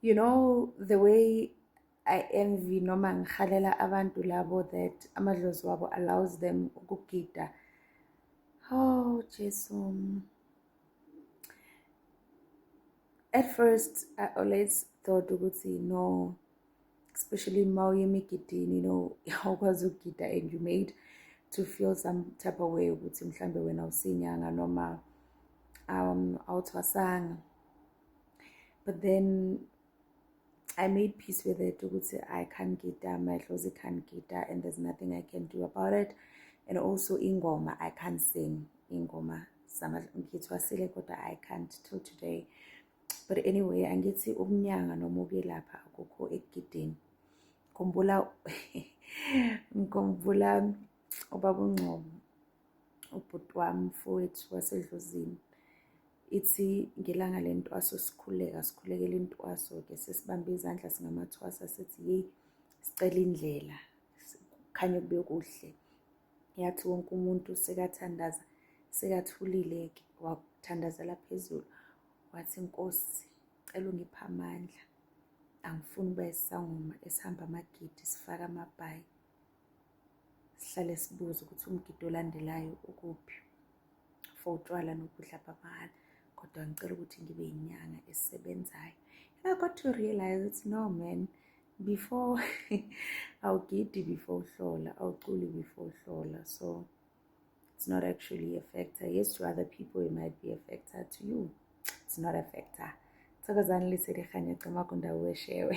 you know the way i envy noma ngihalela abantu labo that amadlozi wabo allows them ukugida oh jesu at first i always thought ukuthi no especially uma uye emigidini you know awukwazi ukugida and you made to feel some type of way ukuthi mhlawumbe wena usinyanga noma um awuthwasanga but then I made peace with it ukuthi I can't get down my clothes I can't get down and there's nothing I can do about it and also ingoma I can't sing ingoma ngithiwa sile kodwa I can't till today but anyway angithi ukunyanga noma ukwelapha akukho ekugideni ngikhumbula ngikhumbula ubabungcobo ubhuti wami mfowethu wasedlozini ithi ngelanga le ntwaso sikhuleka sikhulekela intwaso ke sesibambe izandla singamathwasa sithi yeyi sicela indlela kukhanye kube kuhle yathi wonke umuntu sekathandaza sekathulile ke wathandazela phezulu wathi nkosi cela ungipha amandla angifuni ukuba isangoma esihamba amagidi sifaka amabhayi sihlale sibuze ukuthi umgidi olandelayo ukuphi for utshwala nokudla bamahhala kodwa ngicela ukuthi ngibe yinyanga esebenzayo and i got to realize ukuthi no man before awugidi before uhlola awuculi before uhlola so it's not actually a factor yes to other people it might be a factor to you it's not a factor thokozani liselihanye cima kundawo eshewe